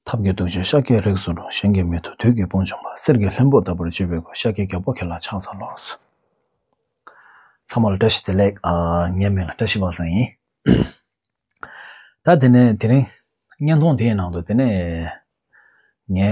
ཐབས་ཀྱི་གདུལ་བྱ་ཤཱཀྱའི་རིགས་སུ་རུང་གཞན་གྱི་མི་དུ་དུས་ཀྱི་དཔུང་བྱུང་བ་གསེར་གྱི་ལྷུན་པོ་ལྟ་བུར་སྤྱོད་པའི་སྒོས་ཤཱཀྱའི་རྒྱལ་པོ་ཁྱེད་ལ་ཕྱག་འཚལ་ལོ། ཚངས་མ་ལ་བཀྲ་ཤིས་བདེ་ལེགས། ངའི་མིང་ལ་བཀྲ་ཤིས་པ་སངས་ཡིན། ད་དེ་ནས་དེ་རིང་བརྙན་ཐུང་དེའི་ནང་དུ་དེ་ནས་ངའི།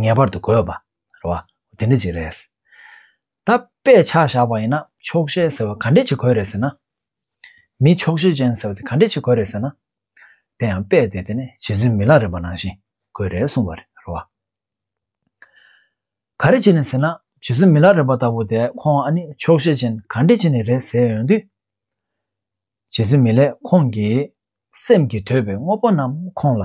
ངེས་པར་དུ་དགོས་པ་རེད་བ་དེ་འདྲ་ཅིག་རེད། ད་དཔེ་ཆ་བཞག་པ་ཡིན་ན་ཆོག་ཤེས་ཟེར་བ་ག་འདྲ་ཅིག་དགོས་རེད་ཟེར་ན། མི་ཆོག་ཤེས་ཅན་ཟེར་བ་དེ་ག་འདྲ་ཅིག་དགོས་རེད་ཟེར་ན། དེ་ཡང་དཔེ་དེ་དེ་ནི་རྗེ་བཙུན་མི་ལ་རས་པ་ནང་བཞིན་དགོས་རེད་གསུངས་པ་རེད་བ། ག་རེ་བྱས་ནས་ཟེར་ན་རྗེ་བཙུན་མི་ལ་རས་པ་ལྟ་བུ་དེ་ཁོང་ཨ་ནི་ཆོག་ཤེས་ཅན་ག་འདྲ་ཅིག་ནས་རེད་ཟེར་ཡོང་དུས། རྗེ་བཙུན་མི་ལས་ཁོང་གིས་སེམས་ཀྱིས་འདོད་པའི་དངོས་པོ་རྣམས་ཁོང་ལ་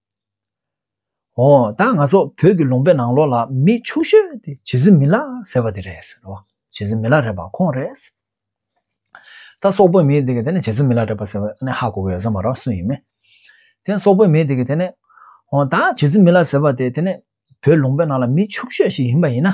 ཨོ་ད་ང་ཚོ་བོད་ཀྱི་ལུང་པའི་ནང་ལོགས་ལ་མི་ཆུང་ཤོས་དེ་བྱེ་རྫི་མི་ལགས་ཟེར་བ་དེ་རེད་ཟེར་རོ་བྱེ་རྫི་མི་ལགས་རེད་པ་ཁོང་རེད། ད་སོག་པོའི་མི་དེ་གི་དེ་ནས་བྱེ་རྫི་མི་ལགས་རེད་པ་ཟེར་བ་ཨ་ནི་ཧ་གོ་གི་ཡོད་ས་མ་རོ་སུ་ཡིན་མིན། དེ་ནས་སོག་པོའི་མི་དེ་གི་དེ་ནས་ཨོ་ད་བྱེ་རྫི་མི་ལགས་ཟེར་བ་དེ་དེ་ནས་བོད་ལུང་པའི་ནང་ལ་མི་ཆུང་ཤོས་ཤིག་ཡིན་པ་ཡིན་ན།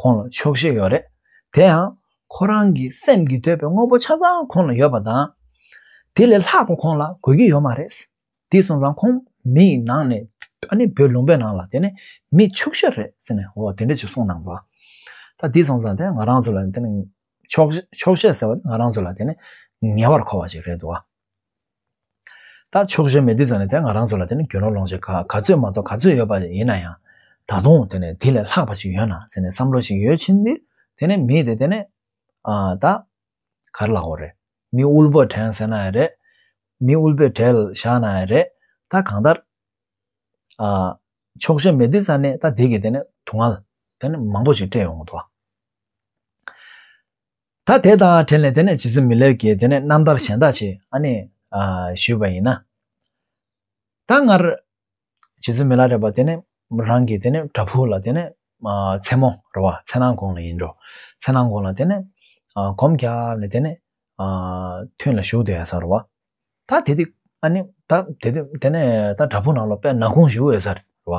ཁོང་ལ་ཆོག་ཤེས་ཡོད་རེད། དེ་ཡང། ཁོ་རང་གི་སེམས་ཀྱི་འདོད་པའི་དངོས་པོ་ཆ་ཚང་ཁོང་ལ་ཡོད་པ་དང། དེ་ལས་ལྷག་པ་ཁོང་ལ་དགོས་ཀྱི་ཡོད་མ་རེད། དེ་སོང་ཙང་ཁོང་མི་ཡི་ནང་ནས། ཨ་ནི་བོད་ལུང་པའི་ནང་ལ་དེ་ནི་མི་ཆོག་ཤེས་རེད་ཟེར་ནས་འོ་དེ་འདྲ་ཅིག་གསུངས་གནང་བ། ད་དེ་སོང་ཙང་དེ་ང་རང་ཚོ་ལ་དེ་ནི་ཆོག་ཤེས་ཟེར་བ་དེ་ང་རང་ཚོ་ལ་དེ་ནི་ངེས་པར་མཁོ་བ་ཅིག་རེད་དོ། ད་ཕྱོགས་ཞེན་མེད་དུས་ཙམ་ལས་དེ་ང་རང་ཚོ་ལ་དེ་ནི་གྱོན་ལོག་ལོང་ཞིག་ག་ག་ཚོད་མ་གཏོགས་ག་ཚོད་ཡོད་པ་ཡིན་ན་ཡང། ད་དུང་དེ་ནི་དེ་ལས་ལྷག་པ་ཞིག་ཡོད་ན་ཟེར་ནས་བསམ་བློ་ཞིག་ཡོད་ཕྱིན་དུས་དེ་ནི་མི་དེ་དེ་ནི། ཨ། ད། གར་ལ་འོ་རེད། མི་དབུལ་པོ་དྲན་ཟེར་ན་ཡང་རེད། མི་དབུལ་པོའི་གྲལ་བཞག་ན་ཡང་རེད། ད་གང་ལྟར། ཨ། ཕྱོགས་ཞེན་མེད་དུས་ཙམ་ནས་ད་དེ་གི་དེ་ནི་དུག་ལྔ། དེ་ནི་མང་པོ་ཞིག་སྤྲད་ཡོང་གི་འདུག། ད་དེ་དང་བྲལ་ནས་དེ་ནས་ཇི་སྲིད་མི་སླེབ་ཀྱི་དེ་ནས་རྣམ་ཐར་གཞན་དག་བྱེད་ཨ་ནི། ཞུས་པ་ཡིན་ན། ད་སྔར། ཇི་སྲིད་མི་ལ་རེ་བ་དེ་ནས་རང་གི་དེ་ནས་བྲ་ཕུག་ལ་དེ་ནས། མཚན་མོ་རེ་བ་མཚན་སྣང་དགོངས་ལ་ཡིན་འགྲོ། མཚན་སྣང་དགོངས་ལ་དེ་ནས། གོམས་བརྒྱབ་ནས་དེ་ནས། ཐུན་ལ་ཞུགས་དེ་ཡོད་ས་རེ་བ། ད་དེ་དུས་ཨ་ནི། ད་དེ་དུས་དེ་ནས་ད་བྲ་ཕུག་ནང་ལ་པད་ན་གུང་ཞུགས་ཡོད་ས་རེ་བ།